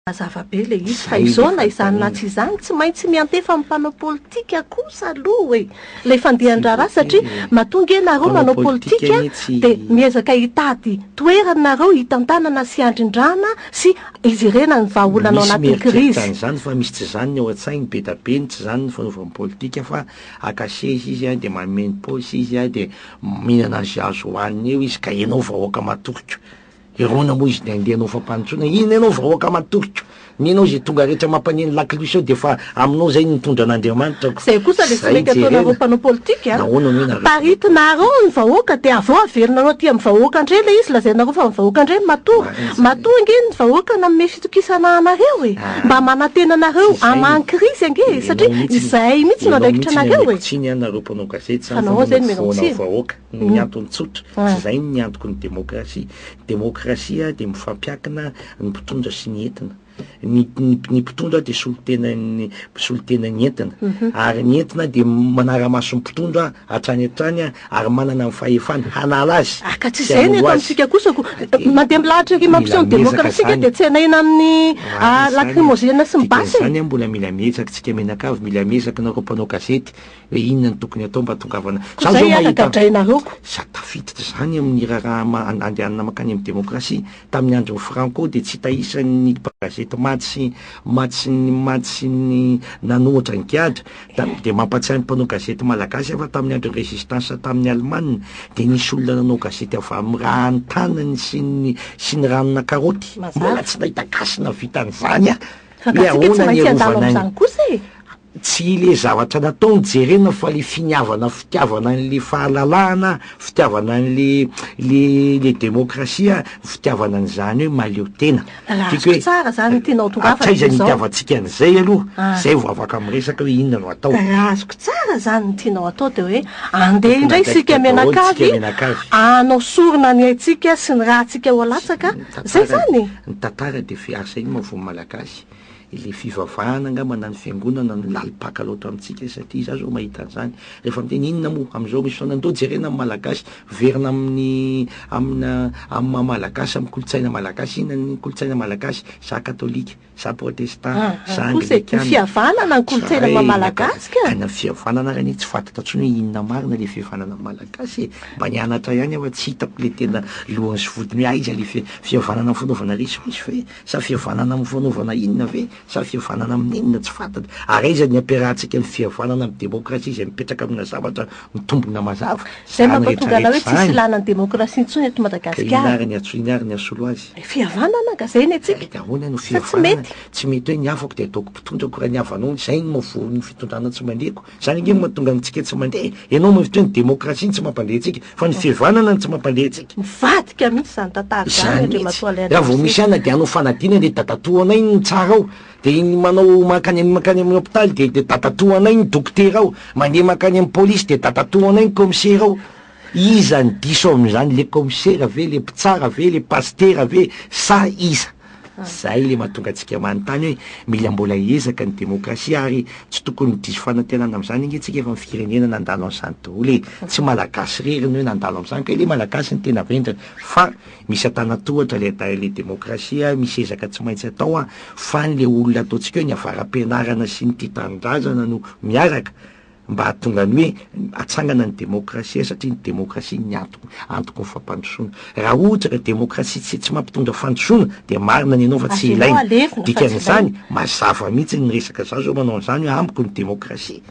Mazava be ilay izy fa izao na izany na tsy izany tsy maintsy miantefa amin'ny mpanao politika kosa aloha e! ilay fandehan-draharaha satria matoa ange ianareo manao politika dia miezaka hitady toerana ianareo hitantanana sy handrindrana sy hijerena ny vahaolana ao anatin'ny krizy. Misy mieritreritra an'izany fa misy tsy izany ny ao an-tsainy, be da be ny tsy izany ny fanaovany politika fa haka seza izy dia manome ny paosy izy dia mihinana an'izay azo hohaniny eo izy ka ianao vahoaka matoky. Hirona moa izy de andeha anao fampanontsoana, inona ianao vahoaka matorika, ny anao zay tonga rehetra mampaneno lakilosy ao de efa aminao zay ny mitondra an'Andriamanitra ko, Zay kosa le tsy mety ataonareo mpanao politika a! Nahoana moa nareo Paritinareo ny vahoaka de avy eo averinareo aty amin'ny vahoaka ndray le izy lazainareo fa ny vahoaka ndray no matoa, matoa ange ny vahoaka nanome fitokisana anareo e! Mba manantena anareo hamangy krizy ange e! Satria izay mihitsy no andraikitra anareo e! Fa nahoana zay no menao tsiny? noho ny antony tsotra, tsy izay ny antoky ny demokrasia. Ny demokrasia dia mifampiankina ny mpitondra sy ny entina. Ny ny mpitondra dia solontenan'ny solontenan'ny entina, ary ny entina dia manara-maso ny mpitondra hatrany hatrany ary manana ny fahefany hanala azy. Ah, ka tsy izay ny eto amintsika kosa ko. Mandeha milahatra ery mampiseho ny demokrasia isika dia tsenahina amin'ny lakrimozena sy ny basy e! Dikan'izany an, mbola mila miezaka tsika mianakavy, mila miezaka nareo mpanao gazety, Hoe inona no tokony atao mba atongavana. Za zao mahita za tafiditra zany amin'ny raharaha ma- andehanana makany amin'ny demokrasia. Tamin'ny andron'i Franco dia tsy hita isan'ny gazety matsy matsy ny matsy ny nanohitra ny gadra. Da- dia mampatsiahy ny mpanao gazety malagasy aho fa tamin'ny andron'ny résistance tamin'ny Alemana dia nisy olona nanao gazety avy amin'ny rahan'ny tanany sy ny sy ny ranona karaoty. Mbola tsy nahita gasy nahavita an'izany aho. Fa ka tsika tsy maintsy handalo amin'izany kosa e! Tsy le zavatra nataony jerena fa le finiavana fitiavana an'le fahalalahana, fitiavana an'le le le demokrasia, fitiavana an'zany hoe mahaleo tena. Tiako hoe hatraiza ny itiavantsika an'zay aloha, zay vao afaka miresaka hoe inona no atao. Raha azoko tsara zany ny tianao atao de hoe andeha indray isika mianakavy hanao sorona ny haintsika sy ny ratsika ho latsaka, zay zany? Ny tantara de fiarsahin'ny vao malagasy. Ilay fivavahana angamba na ny fiangonana no lalim-paka loatra amintsika satria izaho izao mahita an'izany rehefa miteny inona moa amin'izao misy fotoana ndao jerena amin'ny malagasy miverina amin'ny amina amin'ny maha malagasy amin'ny kolontsaina malagasy inona ny kolontsaina malagasy za katolika za protestant ah, ah, za anglikana ny fihavanana ny kolontsaina maha malagasy ka any amin'ny fihavanana ary anie tsy fantatra intsony hoe inona marina ilay fihavanana amin'ny malagasy e mba ny anatra ihany aho fa tsy hitako ilay tena lohany sy vodiny hoe aiza ilay fihavanana fanaovana resy resy fa hoe Sa fihavanana amin'ny fanaovana inona ve? Sa fihavanana amin'inona? Tsy fantatra. Ary aiza ny ampiarahantsika ny fihavanana amin'ny demokrasia izay mipetraka amina zavatra mitombina mazava? Izay mampatonga anao hoe tsisy ilàna ny demokrasia intsony eto Madagasikara. Ka inona ary ny antso, inona ary ny hasolo azy? Dia fihavanana angaha izay ny antsika? Dia ahoana no fihavanana? Sa tsy mety? Tsy mety hoe ny hafako dia ataoko mpitondra ko raha ny havanao izay no maha voa ny fitondrana tsy maneko. Zany ange no mahatonga antsika tsy mandeha. Enao mihevitra hoe ny demokrasia no tsy mampandre antsika, fa ny fihavanana no tsy mampandre antsika. Mivadika mihitsy izany tantara izany Zany Andriamatoa mihitsy. Alain Raha vao misy Dreyfus. anona dia hanao fanadinana dia dadatoa anay no mitsara ao. Dia iny manao mankany amin'ny mankany amin'ny hopitaly dia dia dadatoa anay ny dokotera ao. Mandeha mankany amin'ny polisy dia dadatoa anay ny kaomisera ao. Iza no diso ao amin'izany? Le kaomisera ve? Le mpitsara ve? Le pasitera ve? Sa iza? Izay ilay mahatonga antsika manontany hoe mila mbola hiezaka ny demokrasia ary tsy tokony diso fanantenana amin'izany ange tsika fa ny firenena nandalo an'izany daholo e! Tsy malagasy irery ny hoe nandalo amin'izany ka ilay malagasy no tena vendrana fa misy antanantohatra ilay dahy ilay demokrasia misy ezaka tsy maintsy atao an! Fa ny le olona ataontsika hoe ny avara-pianarana sy ny tia tanindrazana no miaraka mba hahatonga ny hoe hatsangana ny demokrasia satria ny demokrasia ny antoko antoko ny fampandrosoana. Raha ohatra ka demokrasia tsy tsy mampitondra fandrosoana dia marina ny anao fa tsy ilaina. Dikan'izany mazava mihitsy ny resaka za zao manao an'izany hoe amiko ny demokrasia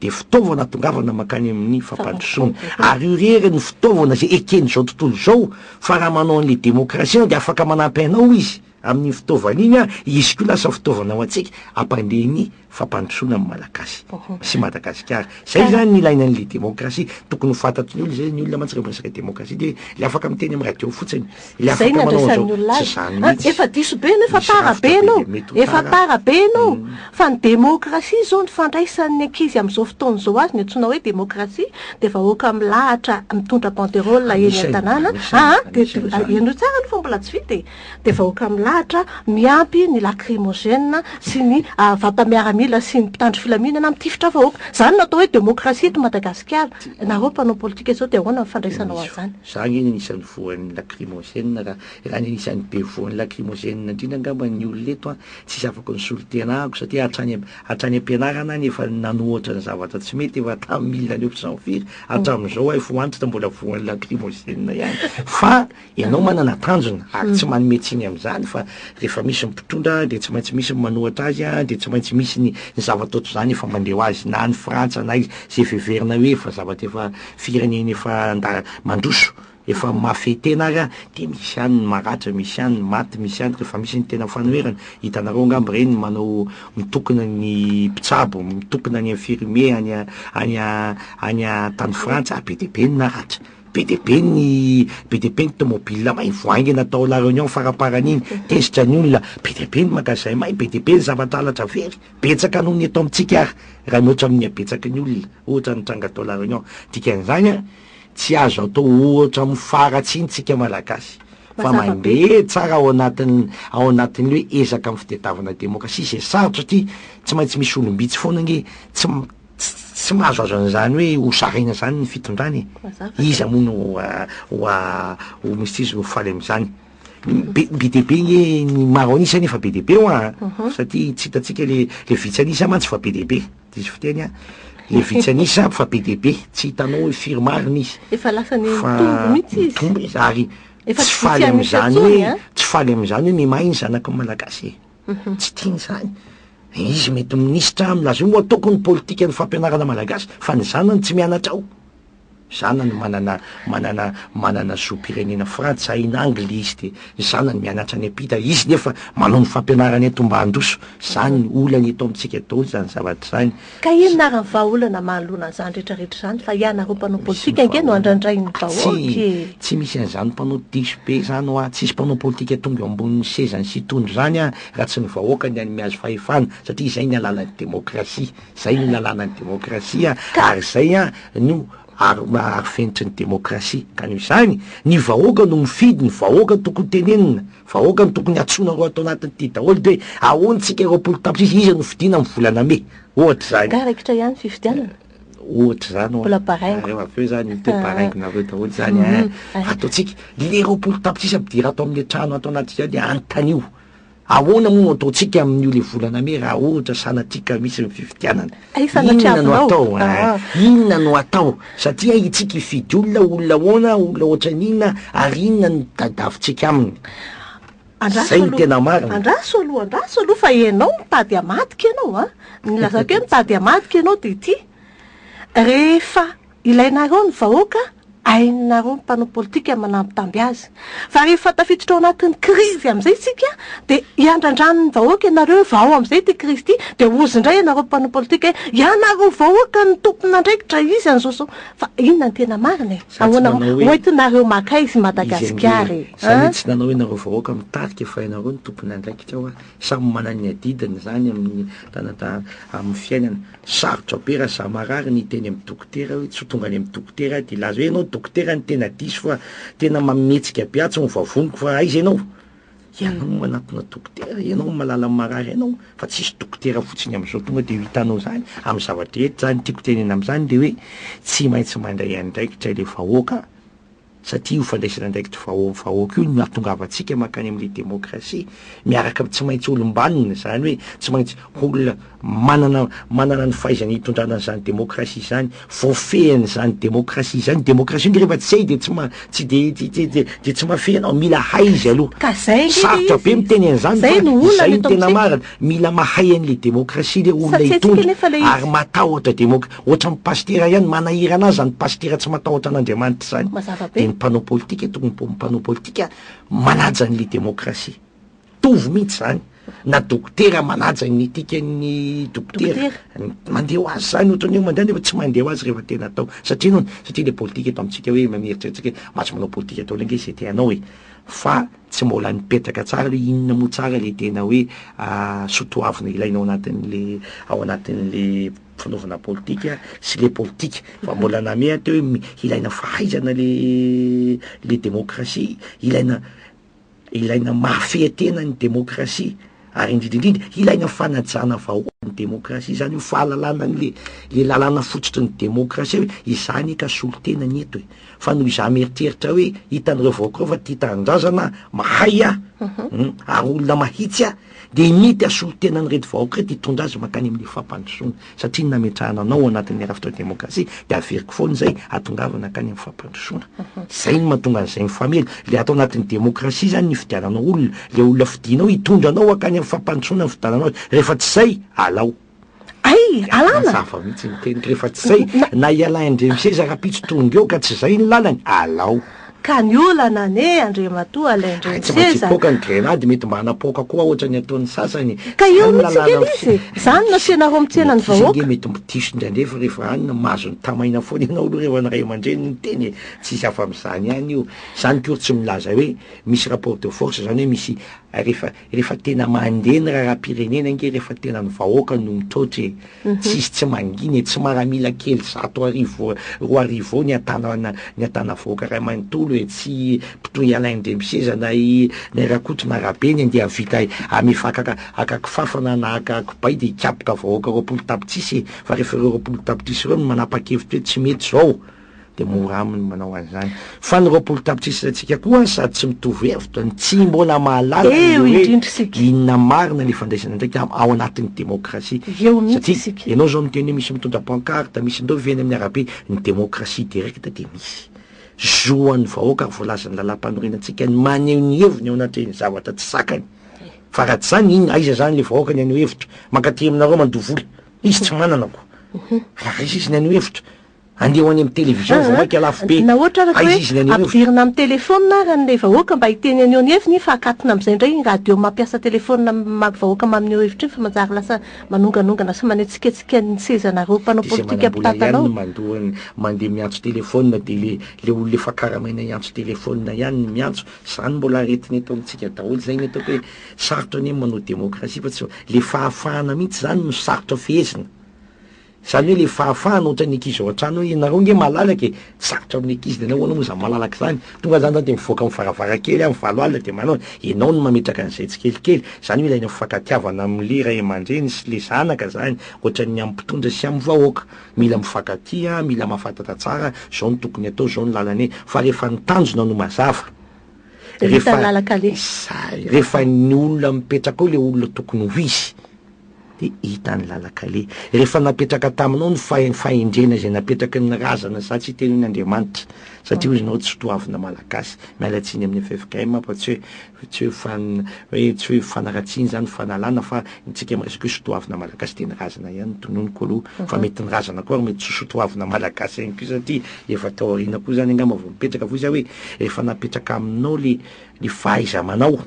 dia fitaovana atongavana mankany amin'ny fampandrosoana. Ary io irery no fitaovana izay eken'izao tontolo izao fa raha manao an'ilay demokrasia ianao dia afaka manampy anao izy. Amin'iny fitaovana iny ary izy koa lasa fitaovana ho antsika hampandeha ny fampandrosoana ny Malagasy sy Madagasikara. Izay izany ny ilaina an'ilay demokrasia. Tokony ho fantatry ny olona izay, ny olona mantsy rehefa resaka demokrasia dia ilay afaka miteny amin'ny radio fotsiny, ilay afaka manao an'izao. Tsy izany mihitsy. Efa diso be ianao, efa tara be ianao, efa tara be ianao fa ny demokrasia izao ny fandraisan'ny ankizy amin'izao fotoana izao azy, ny antsoina hoe demokrasia dia vahoaka milahatra mitondra banderole eny an-tanàna, aa, ianao tsara aloha fa mbola tsy vita e! dia vahoaka milahatra miampy ny lakrimozena sy ny vata-miaramila sy ny mpitandro filaminana mitifitra vahoaka. Izany no atao hoe demokrasia eto Madagasikara. Ianareo mpanao politika izao dia ahoana ny fandraisanao azy izany? Za ange ny anisan'ny voan'ny lakrimozena ra, ra ny anisan'ny be voan'ny lakrimozena indrindra angamba ny olona eto an, tsy zavako ny solontenako satria hatrany hatrany am-pianarana any efa nanohatra ny zavatra tsy mety efa tamin'ny mille neuf cent firy hatramin'izao hay fohanitra mbola voan'ny lakrimozena ihany fa Ianao manana tanjona ary tsy manome tsiny amin'izany fa rehefa misy ny mpitondra dia tsy maintsy misy ny manohatra azy an, dia tsy maintsy misy ny ny zava-toa toy izany efa mandeha ho azy na any Frantsa na aiza izay efa heverina hoe efa zavatra efa firenena efa nda- mandroso efa mahafehy tena ary an, dia misy ihany ny maratra, misy ihany ny maty, misy ihany rehefa misy ny tena fanoherana, hitanareo angamba ireny manao mitokona ny mpitsabo, mitokona any infirmier any a, any a, any a tany Frantsa be dia be ny naratra. Be dia be ny be dia be ny tomobila may vao haingana tao La Réunion faramparany iny, tezitra ny olona, be dia be ny magasin may, be dia be ny zavatra halatra very, betsaka noho ny eto amintsika ary raha mihoatra amin'ny habetsaky ny olona ohatra nitranga tao La Réunion, dikan'izany an, tsy azo atao ohatra amin'ny fara atsy ny tsika Malagasy fa mandeha tsara ao anatin'ny ao anatin'ny hoe ezaka amin'ny fitadiavana demokrasia izay sarotra satria tsy maintsy misy olom-bitsy foana ange tsy Tsy mahazo azo an'izany hoe ho sarahina izany ny fitondrana e, iza moa no ho misy izy no ho faly amin'izany? be be dia be nge ny maro an'isa nefa be dia be hoa an, mhm. satria tsy hitantsika le le vitsy an'isa mantsy fa be dia be, diso fiteny an, le vitsy an'isa fa be dia be, tsy hitanao hoe firy marina izy, efa lasa ny mitombo mihitsy izy, mitombo izy ary tsy faly amin'izany hoe tsy faly amin'izany hoe mihamay ny zanaky ny Malagasy e. Tsy tiany izany. Izy mety ho minisitra milaza hoe ataoko ny politikan'ny fampianarana malagasy fa ny zanany tsy mianatra ao. Zanany manana manana manana zom-pirenena Frantsa, haina Angly izy dia ny zanany mianatra any am-pita, izy nefa manao ny fampianarana eto mba handroso. Izany olana eto amintsika daholo izany zavatra izany. Ka inona ary ny vahaolana mahaloana an'izany rehetrarehetra izany fa ianareo mpanao politika ange no andrandrain'ny vahoaka e! Tsy misy an'izany mpanao diso be izany hoa, tsisy mpanao politika tonga eo ambonin'ny sezany sy hitondra izany an, raha tsy ny vahoaka ny an'ny mihazo fahefana, satria izay ny alalan'ny demokrasia, izay no lalàna ny demokrasia an, ary izay an no ar arofenitry ny demokrasia, ka noho izany ny vahoaka no mifidy, ny vahoaka tokony tenenina. Vahoaka no tokony antsoina roa ato anatiny ty daholo de ahoan tsika roapolo tapitrisa iza no fidiana am volana mey? ohatra zany. Ka raikitra ihany fifidianana? ohatra zany oa. Mbola baraingo. Nareo avy eo zany miteo baraingo nareo daholo zany a. Atao tsika le roapolo tapitrisa ampidira ato amle trano ato anatika de antanio ahoana moa no atao tsika am nio le volana mey raha ohatra sanatria ka misy ny fifidianana? Inona no atao? Inona no atao? Satria hitsika hifidy olona, olona ahoana, olona ohatran'ny inona, ary inona no tadiavintsika aminy? Izay no tena marina. Andraso aloha, andraso aloha fa ianao mitady hamadika ianao an! Ny ilazako hoe mitady hamadika ianao dia ity, rehefa Ilainareo ny vahoaka, hainareo ny mpanao politika manambitamby azy. Fa rehefa tafiditra ao anatin'ny krizy amin'izay isika dia hiandrandran'ny vahoaka ianareo hoe vao amin'izay ity krizy ity dia hozy indray ianareo mpanao politika hoe ianareo vahoaka no tompon'andraikitra izy an'izao izao. Fa inona ny tena marina e? Ahoana ho entinareo maka izy i Madagasikara e? Za ve tsy nanao hoe ianareo vahoaka mitarika fa ianareo no tompon'andraikitra hoa? Samy manana ny adidiny izany amin'ny amin'ny fiainana. Sarotra be raha za marary ny hiteny amin'ny dokotera hoe tsy ho tonga any amin'ny dokotera aho dia hilaza hoe ianao dokotera no tena diso fa tena mamihetsika be aho tsy mivavoniko fa aiza ianao? Ianao no manatona dokotera, ianao no mahalala ny marary anao fa tsisy dokotera fotsiny amin'izao tonga dia ho hitanao izany amin'ny zava-drehetra, izany tiako tenenina amin'izany dia hoe tsy maintsy mandray andraikitra ilay vahoaka, satria io fandraisana andraikitry vahoaka io no hahatongavantsika mankany amin'ilay demokrasia miaraka amin'ny tsy maintsy olom-banona, izany hoe tsy maintsy olona manana manana ny fahaizana hitondrana an'izany demokrasia izany, voafehin'izany demokrasia izany, ny demokrasia nge rehefa tsy hay dia tsy ma- tsy dia tsy tsy tsy dia tsy mahafehy anao, mila hay izy aloha, Ka izay ange ilay sarotra be izy. miteny an'izany Izay fa no olana izay no eto tena amintsika. marina, mila mahay an'ilay demokrasia ilay olona Satria antsika hitondra anefa ilay izy. ary matahotra demokrasia. Ohatran'ny pasitera ihany manahirana azy zany pasitera tsy matahotra an'Andriamanitra zany. Mazava be. Dia ny mpanao politika tokony mba mpanao politika manaja an'le demokrasia. Mitovy mihitsy zany na dokotera manaja ny etikan'ny dokotera. Dokotera. Mandeha ho azy zany ohatran'ny hoe mandeha nefa tsy mandeha ho azy rehefa tena atao. Satria inona? Satria le politika eto amintsika hoe mieritreritrsika hoe mba tsy manao politika ataonao ange ze te hanao e! Fa tsy mbola nipetraka tsara hoe inona moa tsara le tena hoe soa toavina ilaina ao anatin'le ao anatin'le fanaovana politika sy le politika fa mbola nameha teo hoe ilaina fahaizana le le demokrasia ilaina ilaina mahafehy tena ny demokrasia ary indrindrindrindra ilaina fanajana vahoakan'ny demokrasia izany ho fahalalana an'le le lalàna fototry ny demokrasia hoe izany ka solotena ny eto e fa noho izaho mieritreritra hoe hitan'ireo vahoakareo fa tia tanindrazana mahay aho mhm. hmm, ary olona mahitsy aho dia nety hasolo tena an'ireto vahoaka ireto hitondra azy mankany amin'ny fampandrosoana, satria ny nametrahana anao ao anatin'ny rafitra demokrasia dia averiko foana izay hatongavana hankany amin'ny fampandrosoana. Izay no mahatonga an'izay mifamely. Ilay ato anatin'ny demokrasia izany ny ifidiananao olona, ilay olona fidinao hitondra anao hankany amin'ny fampandrosoana ny fidiananao azy. Rehefa tsy izay, alao. Mazava mihitsy ny teniko rehefa tsy zay na i Alain Andriamiseza rahampitso tonga eo ka tsy zay ny lalany, alao. Ka ny olana anie Andriamatoa Alain Andriamiseza. Tsy maintsy hipoaka ny grenady mety mba hanapoaka koa ohatra ny ataon'ny sasany. Ka eo mihitsy ange ilay izy e! Zany no asianareo mitena ny vahoaka. Misy ange mety mitiso indraindray fa rehefa any no mahazo ny tamaina foana ianao aloha rehefa ny ray aman-dreny no miteny e! Tsisy afa-amin'izany ihany io. Zany akory tsy milaza hoe misy rapport de force zany hoe misy rehefa Rehefa tena mandeha ny raharaham-pirenena ange rehefa tena ny vahoaka no mitraotra e. Mhm. Tsisy tsy mangina e, tsy maramila kely zato arivo roa arivo eo ny atanana ny atana vahoaka ray manontolo e, tsy mpitohy ialain drempiseza na i na i rakotrona rabe ny andeha vita amefa akaka aka kifafa na na aka kibay dia hikapoka vahoaka roapolo tapitrisa e, fa rehefa ireo roapolo tapitrisa ireo no manapa-kevitra hoe tsy mety zao, dia mora aminy ny manao an'izany. Fa ny roapolo tapitrisa isantsika koa sady tsy mitovy hevitra no tsy mbola mahalala ny Eo hoe indrindra isika. inona marina ilay fandraisana andraikitra am- ao anatin'ny demokrasia. Eo mihitsy Satria isika. ianao izao miteny hoe misy mitondra pancarte, misy ndao ve any amin'ny arabe, ny demokrasia directe dia misy. Zo ho an'ny vahoaka ary voalazan'ny lalàmpanorenantsika ny maneho ny heviny eo anatrehan'ny zavatra tsy zakany. Fa raha tsy izany, inona, aiza izany ilay vahoaka ny haneho hevitra? Mankaty aminareo mandoa vola. Izy tsy manana koa. Raha raiso izy ny haneho hevitra. Andeha ho any amin'ny télévision vao maika lafo be. Na ohatra araka hoe ampidirina amin'ny téléphone ary ilay vahoaka mba hiteny an'io ny heviny fa akatona amin'izay indray iny radio mampiasa téléphone amin'ny vahoaka mamin'io hevitra iny fa manjary lasa manonganongana sy manetsiketsika ny sezanareo mpanao politika mpitantanao. Izay manam-bola ihany no mandoa mandeha miantso téléphone dia ilay ilay olona efa karamaina hiantso téléphone ihany no miantso. Izany mbola aretina eto amintsika daholo izay ny ataoko hoe sarotra anie ny manao démocratie fa tsy ilay fahafahana mihitsy izany no sarotra fehezina. Zany hoe le fahafahana ohatra ny ankizy ao an-trano hoe ianareo nge malalaka e, tsy sarotra amin'ny ankizy de anao ahoana moa zany malalaka zany, tonga zany zany de mivoaka amin'ny varavarankely amin'ny valo alina de manao ianao no mametraka an'izay tsikelikely, zany hoe ilaina fifankatiavana amle ray aman-dreny sy le zanaka zany ohatra ny amin'ny mpitondra sy amin'ny vahoaka, mila mifankatia, mila mahafantatra tsara zao no tokony atao, zao no lalana e, fa rehefa ny tanjona no mazava, rehefa zay, rehefa ny olona mipetraka ao le olona tokony ho izy. dia hita ny lalan-kaleha. Rehefa napetraka taminao ny fahendrena izay napetraky ny razana sa tsy teo iny Andriamanitra, satria hoy ianao tsy toavina Malagasy, miala tsiny amin'ny ffkm, fa tsy hoe tsy hoe fan hoe tsy hoe fanaratsiana izany fanalana fa ny antsika miresaka hoe sotoavina Malagasy dia ny razana ihany no tononiko aloha, fa mety ny razana koa ary mety tsy sotoavina Malagasy ihany koa satria efa tao aoriana koa izany angamba vao mipetraka fa hoy za hoe rehefa napetraka aminao le le fahaiza-manao,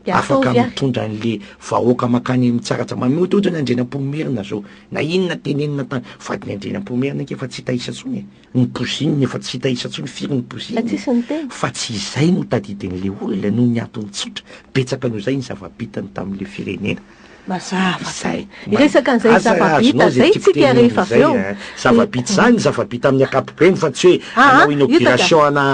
de ataovy ahy. Afaka mitondra an le vahoaka makany am tsara tsara, mamehoty ohatra ny Andrianampoinimerina zao, na inona tenenina tany, vadiny Andrianampoinimerina ange efa tsy hita isa tsony e, ny bougie-ny efa tsy hita isa tsony, firy ny bougie-ny e, fa tsisy niteny, fa tsy izay no tadidin le olona noho ny antony tsotra, betsaka noho izay ny zava bitany tam le firenena. Mazava zay. Hiresaka an'izay zava-bita zay tsika rehefa avy eo. Zava-bita izany, zava-bita amin'ny ankapobeny fa tsy hoe hanao inauguration ana,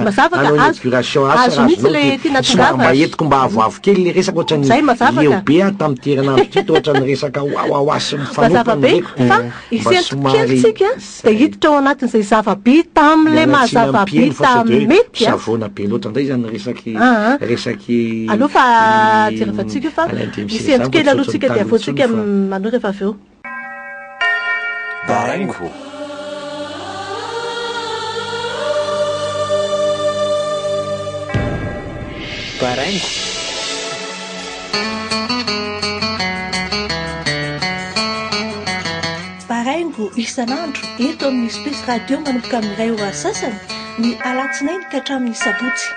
hanao inauguration asa raha azonao dia somary mba entiko mba avoavo kely ilay resaka ohatran'ny leo be aho tamin'ity herinandro ity toa ohatran'ny resaka wawawa sy mifanohitra no reko dia mba somary. Tsy dia hiditra ao anatin'izay zava-bita amin'ilay maha zava-bita mety a. Savoana be loatra indray izany resaky resaky i. Aleo fa jerevantsika io fa misy hentitra kely alohantsika dia avoatsika anio rehefa avy eo. Baraingo. Baraingo. Baraingo isan'andro eto amin'ny Space Radio manomboka amin'ny iray ora sasany ny alatsinainy ka hatramin'ny sabotsy.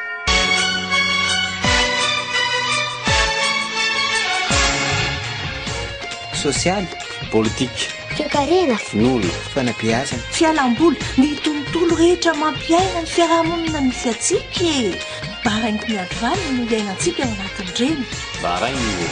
Sosialy, politika, toekarena, finoana, fanabeazana, fialamboly, ny tontolo rehetra mampiaina ny fiarahamonina misy antsika e! Baraingo miandry valiny no iainantsika ao anatin'ireny. Baraingo.